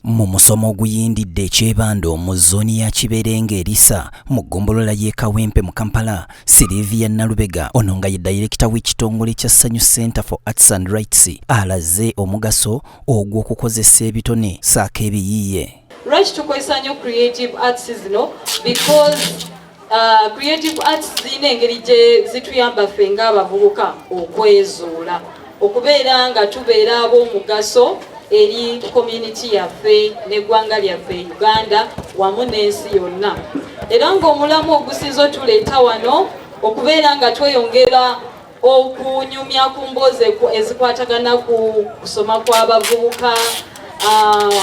mu musomo oguyindidde ekyebanda omu zooni ya kiberenga erisa mu ggombolola y'e kawempe mu kampala silivia nalubega ono nga ye dayirekita w'ekitongole kya sanyu center for arts and rights alaze omugaso ogw'okukozesa ebitone saako ebiyiiye Lwaki tukozesa nnyo creative arts zino because uh, creative arts zirina engeri gye zituyamba ffe ng'abavubuka okwezuula okubeera nga tubeera ab'omugaso eri community yaffe n'eggwanga lyaffe Uganda wamu n'ensi yonna era ng'omulamu ogusinza otuleeta wano okubeera nga tweyongera okunyumya ku mboozi ezikwatagana ku kusoma kw'abavubuka uh,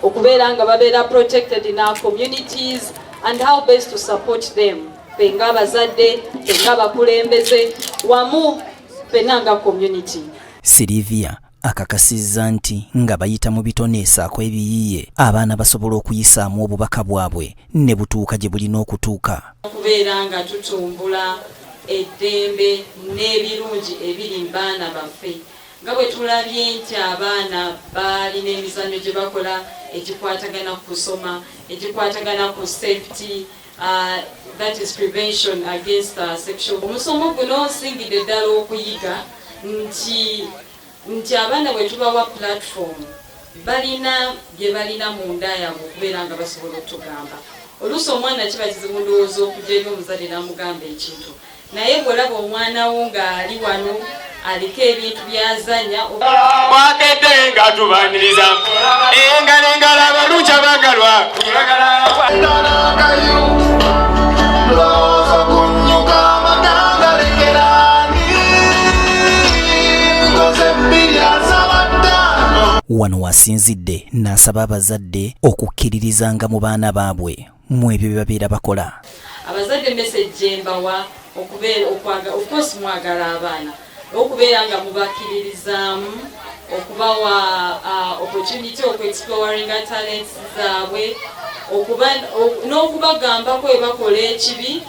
okubeera nga babeera protected in our communities and how best to support them fe nga abazadde fe nga abakulembeze wamu fena nga community Sylvia akakasizza nti nga bayita mu bitone esaako ebiyiye abaana basobola okuyisaamu obubaka bwabwe ne butuuka gye bulina okutuuka okubeera nga tutumbula eddembe n'ebirungi ebiri mu baana baffe nga bwe tulabye nti abaana baalina emizannyo gye bakola egikwatagana ku kusoma egikwatagana ku safety Uh, that is prevention against uh, sexual omusomo guno nsingidde ddala okuyiga nti nti abaana bwe tubawa platform balina bye balina mu nda yaabwe okubeera nga basobola okutugamba oluusi omwana kiba kizibu ndowooza okugya eri omuzadde n'amugamba ekintu naye bw'olaba omwana wo ng'ali wano aliko ebintu byazanya wakedde nga tubaniriza engalo engalo abalungi abagalwa wano wasinzidde n'asaba abazadde okukkirirrizanga mu baana baabwe mu ebyo bye babeera bakola abazadde message gyembawa okubeera okwaga ofcourse mwagala abaana okubeera nga mubakiririzaamu okubawa uh, opportunity okuexploringa talents zaabwe n'okubagamba kwe bakola ekibi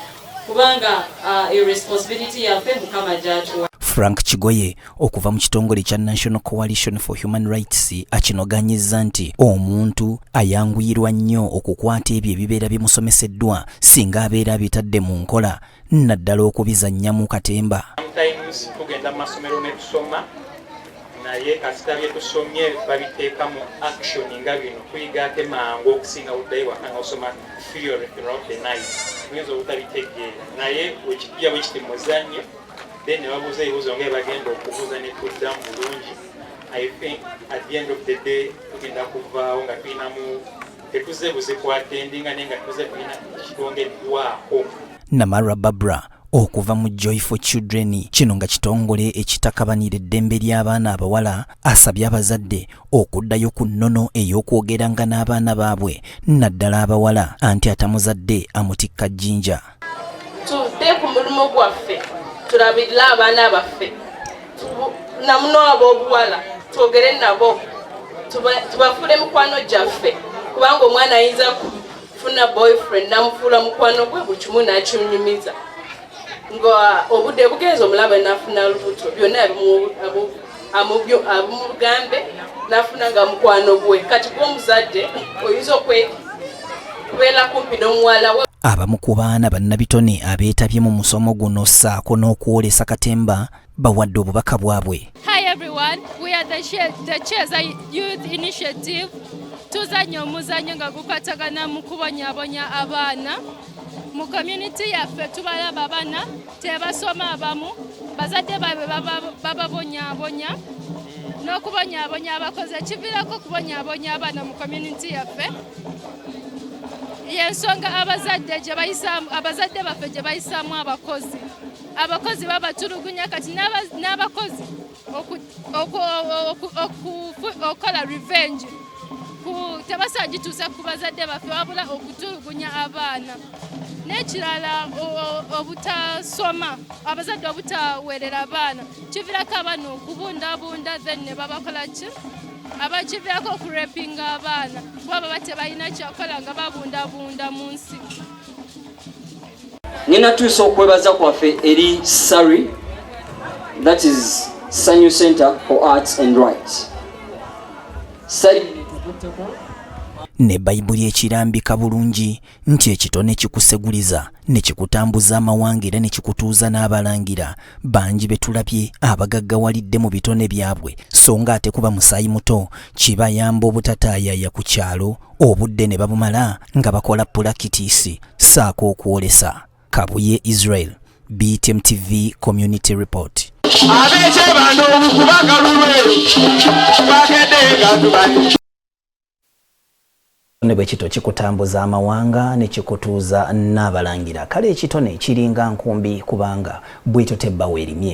kubanga uh, responsibility yaffe mukama gyatuwa frank kigoye okuva mu kitongole kya National Coalition for Human Rights akinoganyizza nti omuntu ayanguyirwa nnyo okukwata ebyo ebibeera bimusomeseddwa singa abeera abitadde mu nkola naddala okubizannya mu katemba tugenda mu masomero ne tusoma naye kasita bye tusomye babiteeka mu action nga bino tuyiga ate mangu okusinga buddayo waka nga osoma theory throughout the night tuyinza obutabitegeera naye wekijja bwe kiti muzannyo then ne babuuza ebibuuzo nga ebagenda okubuuza ne tuddamu bulungi i think at the end of the day tugenda kuvaawo nga tulinamu tetuze buzikwatendinga naye nga tuze tulina kitwongeddwako namarwa babra okuva mu joy for children kino nga kitongole ekitakabanira eddembe ly'abaana abawala asabye abazadde okuddayo ku nnono ey'okwogeranga n'abaana baabwe naddala abawala anti atamuzadde amutikka jjinja tuve ku mulimu gwaffe tulabirire abaana baffe namuno ab'obuwala twogere nabo tubafuule mikwano gyaffe kubanga omwana ayinza kufuna boyfriend namufuula mukwano gwe buli kimu nakinyumiza nga obudde bugenza omulaba nafuna lubuto byonna amubyo amugambe nafuna nga mukwano gwe kati gw'omuzadde oyinza okwe kubeera kumpi n'omuwala we abamu ku baana bannabitone abeetabye mu musomo guno ssaako n'okwolesa katemba bawadde obubaka bwabwe hi everyone we are the, the chesa youth initiative tuzanya omuzanyo nga gukwatagana mu kubonyabonya abaana mu community yaffe tubalaba bana tebasoma abamu bazadde baabwe bababonyabonya n'okubonyabonya abakozi ekiviirako okubonyabonya abaana mu community yaffe yensonga abazadde abazadde baffe gye bayisaamu abakozi abakozi babatulugunya kati n'abakozi okukola revenge tebasagituusa ku bazadde baffe wabula okutulugunya abaana n'ekirala obutasoma abazadde obutaweerera abaana kivirako abaana okubundabunda then ne babakola ki abakivirako okurepinga abaana kuba baba tebalina kyakola nga babundabunda mu nsi Ninatuusa okwebaza kwaffe eri Sari, that is Sanyu Center for Arts and Rights. Sari ne bayibuli ekirambika bulungi nti ekitone kikuseguliza ne kikutambuza amawanga era ne kikutuuza n'abalangira bangi betulabye abagaggawalidde mu bitone byabwe so nga ate kuba musaayi muto kibayamba obutataayaya ku kyalo obudde ne babumala nga bakola pulakitiisi saako okwolesa kabuye israel btm tv community report abekyebanda obukubagalulwe bagedde nga tubanyi ne bwe kito kikutambuza amawanga ne kikutuuza n'abalangira kale ekitone kiringa nkumbi kubanga bw'etyo tebba weerimye